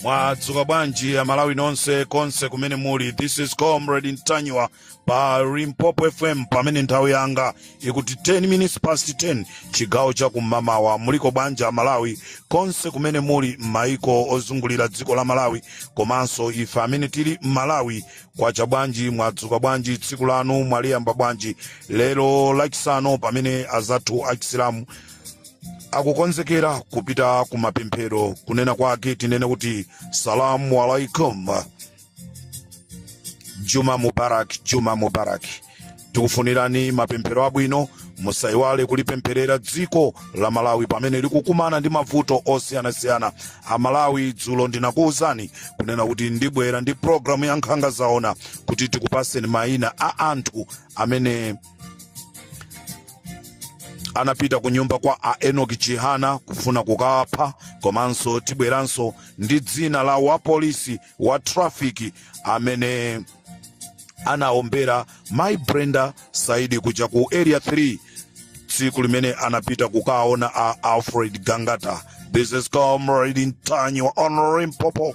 mwadzuka bwanji amalawi nonse konse kumene muli this is comrade ntanyiwa pa limpopo fm pamene nthawi yanga ikuti 10 minutes past 10 chigawo cha kummawa muliko bwanji amalawi konse kumene muli m'maiko ozungulira dziko la malawi komanso ife amene tili m'malawi kwacha bwanji mwadzuka bwanji tsiku lanu mwaliyamba bwanji lero lachisanu pamene azathu achisilamu akukonzekera kupita ku mapemphero kunena kwake tinene kuti salamu alaikum juma mubarak juma mubarak tikufunirani mapemphero abwino musaiwale kulipempherera dziko la malawi pamene likukumana ndi mavuto osiyanasiyana amalawi dzulo ndinakuwuzani kunena kuti ndibwera ndi programu ya nkhanga zaona kuti tikupaseni mayina a anthu amene anapita ku nyumba kwa a enoki chihana kufuna kukapha komanso tibweranso ndi dzina la wapolisi wa trafiki amene anaombera mayi brenda saidi kuja ku area 3 tsiku limene anapita kukaona a alfred gangata this is comrade ntanyiwa on limpopo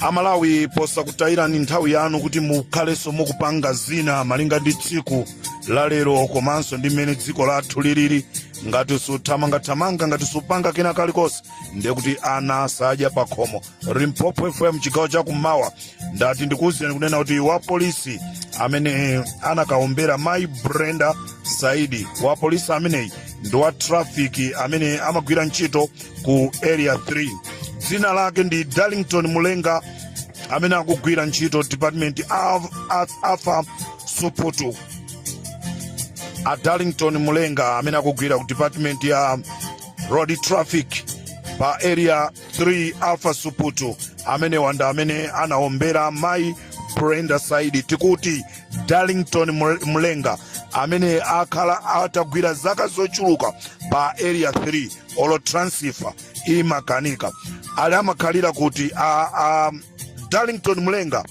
amalawi posakutayirani nthawi yanu kuti mukhalenso mukupanga zina malinga ndi tsiku la lero komanso ndi mmene dziko lathu lilili ngati suthamangathamanga ngati supanga kena kalikonse ndiye kuti ana sadya pakhomo limpopo fm chigawo chakummawa ndati ndikuwuzeni kunena kuti wapolisi amene anakaombera mayi brenda saidi wapolisi ameneyi ndi wa trafiki amene amagwira ntchito ku area 3 dzina lake ndi darlington mulenga amene akugwira ntchito department afa suputu a darlington mulenga amene akugwira ku department ya road traffic pa area 3 afa suputu amene wanda amene anaombera mayi brenda saidi tikuti darlington Mul- mulenga amene akhala atagwira zaka zochuluka pa area 3 olo transifa imakanika ali amakhalira kuti a, a darlington mulenga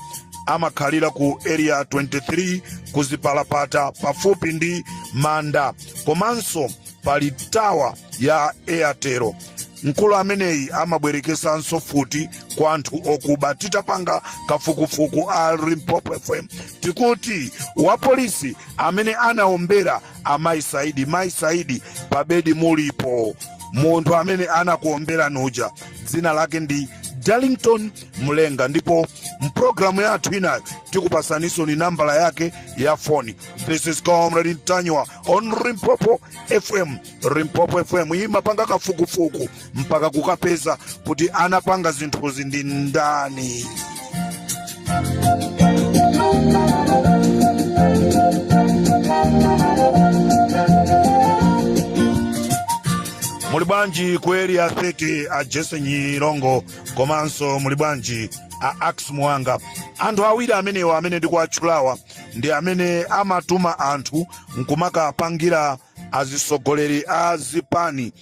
amakhalira ku area 23 kuzipalapata pafupi ndi manda komanso pali tawa ya airtel mkulu ameneyi amabwerekesanso mfuti kwa anthu okuba titapanga kafukufuku a limpopo fm tikuti wapolisi amene anaombera mayi saidi mayi saidi pabedi mulipo munthu amene anakuomberani uja dzina lake ndi darlington mulenga ndipo mpulogalamu yathu inayo tikupasanisoni nambala yake ya foni this is comrade ntanyiwa on limpopo fm limpopo fm imapanga kafukufuku mpaka kukapeza kuti anapanga zinthuzi ndi ndani muli bwanji ku area 30 a jese nyirongo komanso muli bwanji a ax muwanga anthu awiri amenewa amene ndikuwatchulawa ndi amene amatuma anthu nkumakapangira azitsogoleri a zipani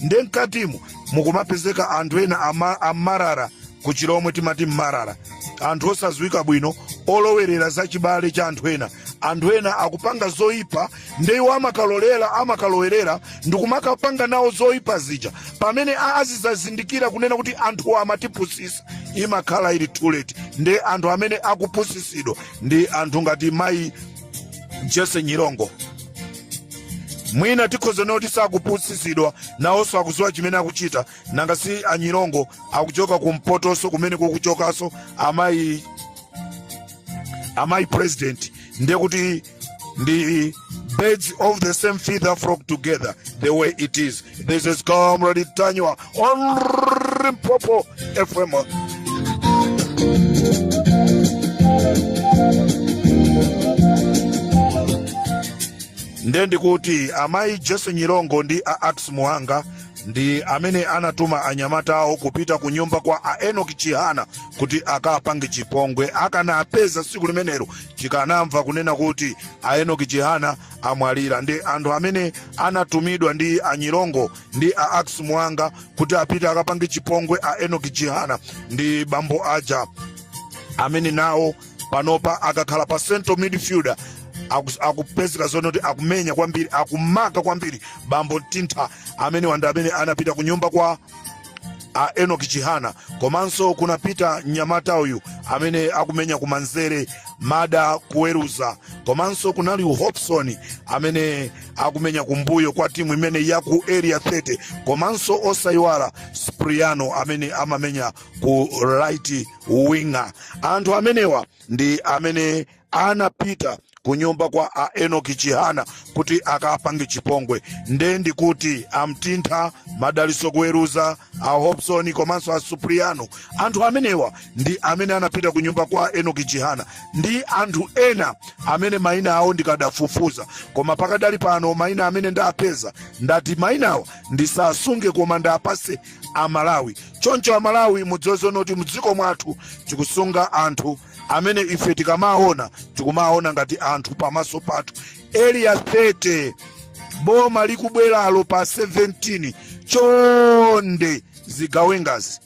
nde mkatimo mukumapezeka anthu ena ama- amarara ku chilomwe timati mmarara anthu osadziwika bwino olowerera za chibale cha anthu ena anthu ena akupanga zoyipa nde iwo amakalolera amakalowerera ndikumakapanga nawo zoyipa zija pamene azizazindikira kunena kuti anthuwo amatipusisa imakhala ili too late ndi anthu amene akupusisidwa ndi anthu ngati mayi jese nyirongo mwina tikhoza kunena kuti sakupusisidwa nawonso akuziwa chimene akuchita nanga si anyirongo akuchoka kumpotonso kumene kukuchokanso amayi amayi president ndiye kuti ndi birds of the same feather flock together the way it is this is comrade ntanyiwa on Limpopo FM. nde ndi kuti amayi jese nyirongo ndi a ax muwanga ndi amene anatuma anyamatawo kupita ku nyumba kwa a enoki chihana kuti akapange chipongwe akanawapeza tsiku limenelo tikanamva kunena kuti a enoki chihana amwalira ndi anthu amene anatumidwa ndi anyirongo ndi a ax muwanga kuti apite akapange chipongwe a enoki chihana ndi bambo aja amene nawo panopa akakhala pa central midfielder akus- akupezeka zonena kuti akumenya kwambiri akumaka kwambiri bambo mtintha amenewa ndi amene anapita ku nyumba kwa a enoki chihana komanso kunapita mnyamata uyu amene akumenya kumanzere mada kuweruza komanso kunali hobson amene akumenya kumbuyo kwa timu imeneyi ya ku area 30 komanso osayiwala supriano amene amamenya ku right winger anthu amenewa ndi amene anapita kunyumba kwa a enoki chihana kuti akapange chipongwe nde ndikuti amtintha madaliso kuweruza a hobson komanso a supriano anthu amenewa ndi amene anapita ku nyumba kwa enoki chihana ndi anthu ena amene mayina awo ndikadafufuza koma pakadali pano mayina amene ndapeza ndati mayinawa ndisasunge koma ndapase amalawi choncho amalawi mudziwe zonoti mdziko mwathu tikusunga anthu amene ife tikamawaona tikumawaona ngati anthu pamaso pathu Area 30 boma likubweralo pa 17 chonde zigawengazi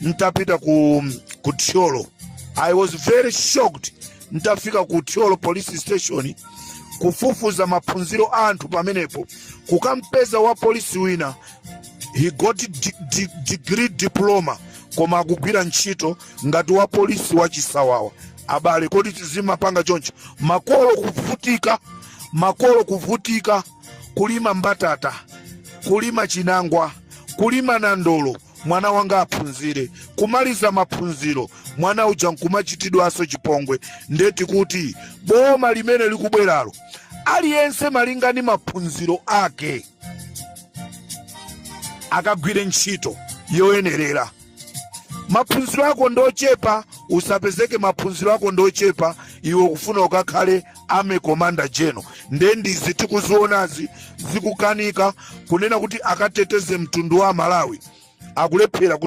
ntapita ku ku thyolo i was very shocked ntafika ku thyolo police station kufufuza maphunziro a anthu pamenepo kukampeza wa polisi wina he got degree diploma koma akugwira ntchito ngati wa polisi wa chisawawa abale kodi tizimapanga choncho makolo kuvutika kulima mbatata kulima chinangwa kulima nandolo mwana wanga aphunzire kumaliza maphunziro mwana uja nkumachitidwanso chipongwe nde tikuti boma limene likubweralo aliyense malingana ndi maphunziro ake akagwire ntchito yoyenerera maphunziro ako ndochepa usapezeke maphunziro ako ndochepa iwe ukufuna ukakhale army commander general nde ndizi tikuzionazi zikukanika kunena kuti akateteze mtundu wa malawi akulephera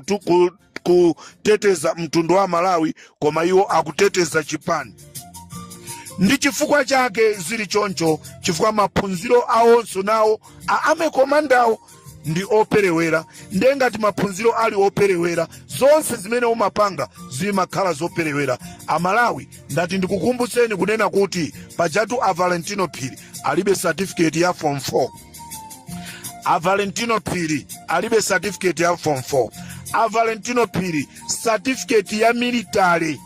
kuteteza mtundu wa malawi koma iwo akuteteza chipani ndi chifukwa chake zili choncho chifukwa maphunziro awonso nawo a army commanderwo ndi operewera ndiye ngati maphunziro ali operewera zonse zimene umapanga zimakhala zoperewera amalawi ndati ndikukumbutseni kunena kuti pajatu a valentino phiri alibe certificate ya form 4 a valentino phiri alibe certificate ya form 4 a valentino phiri certificate ya military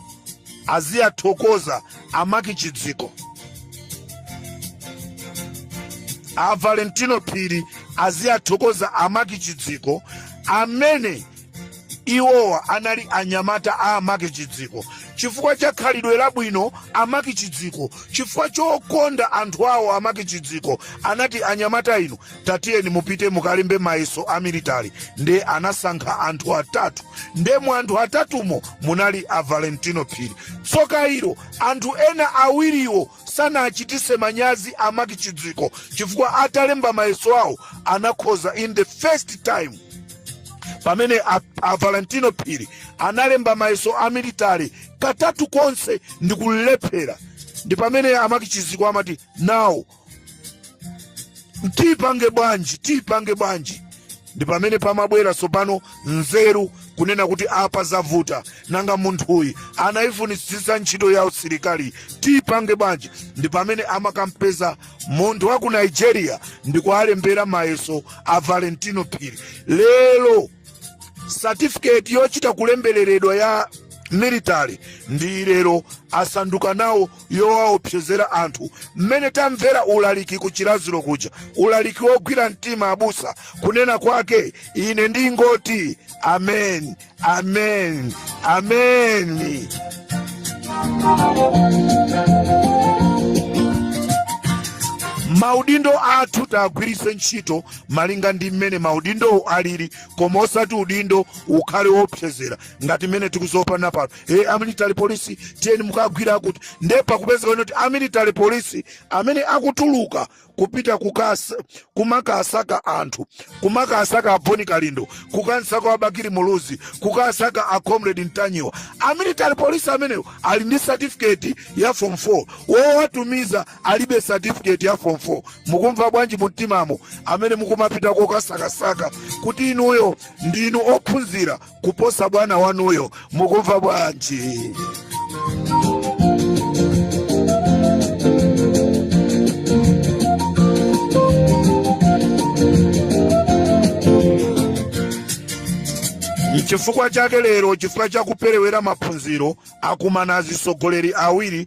aziwathokoza Amaki Chidziko, a Valentino Phiri aziwathokoza Amaki Chidziko amene iwowa anali anyamata a Amaki Chidziko chifukwa cha khalidwe labwino Amaki Chidziko, chifukwa chokonda anthu awo Amaki Chidziko anati anyamata inu tatiyeni mupite mukalembe mayeso a military nde anasankha anthu atatu nde mu anthu atatumo munali a valentino phiri tsoka ilo anthu ena awiriwo sanawachititse manyazi amaki chidziko chifukwa atalemba mayeso awo anakhoza in the first time pamene a, a valentino phiri analemba mayeso a military katatu konse ndikulephera ndi pamene amaki chidziko amati now tipange bwanji tipange bwanji ndi pamene pamabwera tsopano nzeru kunena kuti apa zavuta nanga munthuyi anayifunitsitsa ntchito ya usilikali tipange bwanji ndi pamene amakampeza munthu wa ku nigeria ndikuwalembera mayeso a valentino phiri lero satifiketi yochita kulemberedwa ya military ndi lero asanduka nawo yowaopsezera anthu mmene tamvera ulaliki ku chiradzulu kuja ulaliki wogwira mtima abusa kunena kwake ine ndingoti amen amen amen maudindo athu tiwagwiritse ntchito malinga ndi mmene maudindowo alili koma osati udindo ukhale woopsezera ngati mmene tikudziopa pano e amilitary police tiyeni mukagwira akuti nde pakupezeka kuti amilitary police amene akutuluka kupita kukasa kumakasaka anthu kumakasaka aboni kalindo kukamsaka a bakili muluzi kukasaka a comrade mtanyiwa amilitary police amenewo ali ndi certificate ya form 4 wowatumiza alibe certificate ya form 4 mukumva bwanji mumtimamo amene mukumapita kokasakasaka kuti inuyo ndinu ophunzira kuposa bwana wanuyo mukumva bwanji chifukwa chake lero chifukwa chakuperewera maphunziro akumana atsogoleri awiri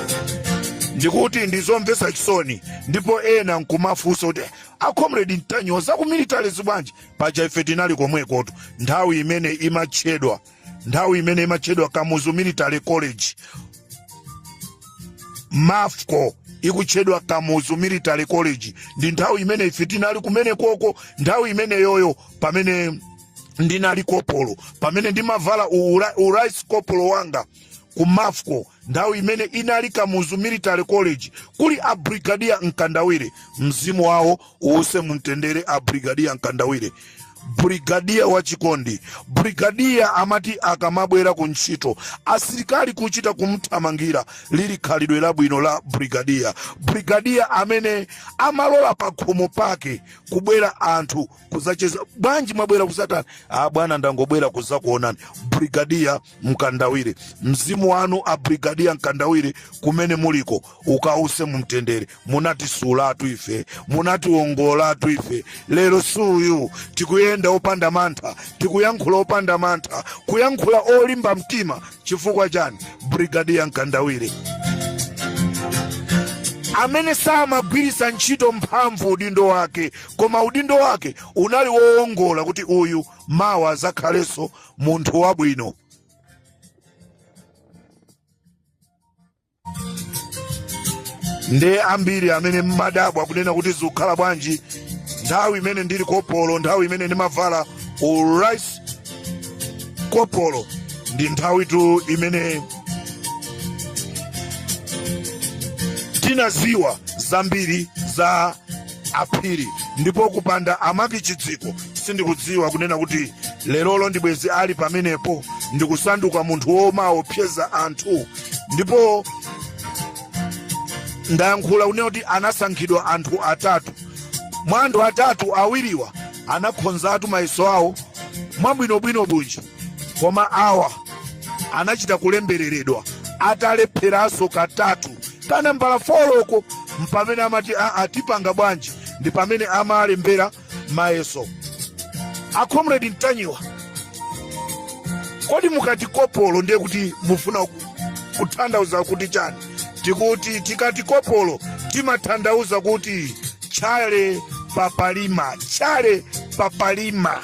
ndikuti ndizomvetsa chisoni ndipo ena nkumafunsa kuti acomrade mtanyiwa za ku military zibwanji paja ife tinali komwekotu nthawi imene imatchedwa nthawi imene imatchedwa kamuzu military college mafco ikutchedwa kamuzu military college ndi nthawi imene ife tinali kumene koko nthawi imeneyoyo pamene ndinali kopolo pamene ndimavala ura- urice kopolo wanga ku mafco nthawi imene inali kamuzu military college kuli a brigadier mkandawire mzimu wawo uuse mumtendere a brigadier mkandawire brigadier wachikondi brigadier amati akamabwera ku ntchito asilikali kuchita kumthamangira lili khalidwe labwino la brigadier brigadier amene amalola pakhomo pake kubwera anthu kuzacheza bwanji mwabwera kuzatani abwana ndangobwera kuzakuonani brigadier mkandawire mzimu wanu a brigadier mkandawire kumene muliko ukause mumtendere munati sulatu ife munati wongolatu ife lero suyu tikuyenda opanda mantha tikuyankhula opanda mantha kuyankhula olimba mtima chifukwa chani brigadier mkandawire amene samagwirisa ntchito mphamvu udindo wake Koma udindo wake unali woongola kuti uyu mawa zakhalenso munthu wabwino. Nde ambiri amene mmadabwa kunena kuti zikukhala bwanji nthawi imene ndili kopolo, nthawi imene ndimavala u rice kopolo ndi nthawitu imene tinaziwa zambiri za aphiri ndipo kupanda amaki chidziko sindikudziwa kunena kuti lerolo ndibwezi ali pamenepo ndikusanduka munthu womaopseza anthu ndipo ndayankhula kunena kuti anasankhidwa anthu atatu mwa anthu atatu awiriwa anakhonzatu mayeso awo mwabwinobwino bunji Koma awa anachita kulembereredwa atalepheranso katatu kanambala foloko mpamene amati aa tipanga bwanji ndi pamene amalembera mayeso a comrade ntanyiwa kodi mukati kopolo ndiye kuti mufuna ku- kuthandauza kuti chani tikuti tikati kopolo timathandauza kuti tchale papalima tchale papalima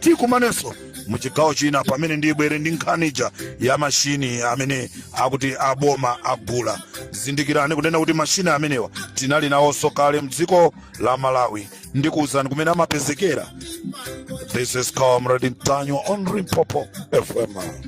tikumanenso mu chigawo china pamene ndibwere ndi nkhani ija ya mashini amene akuti aboma agula zindikirani kunena kuti mashini amenewa tinali nawonso kale mdziko la malawi ndikuwuzani kumene amapezekera this is comrade ntanyiwa on limpopo fm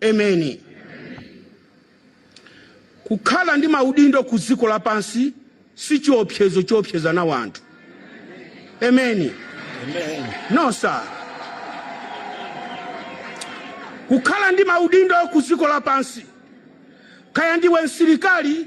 Emeni. Kukhala ndi maudindo ku dziko lapansi si chiopsezo choopseza nawo anthu. Emeni. No, sir. Kukhala ndi maudindo ku dziko lapansi, kaya ndiwe msilikali,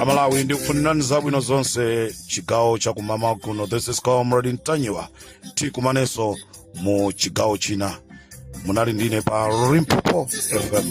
amalawi ndikufunirani zabwino zonse chigawo chakummawa kuno this is comrade ntanyiwa tikumanenso mu chigawo china munali ndine pa limpopo fm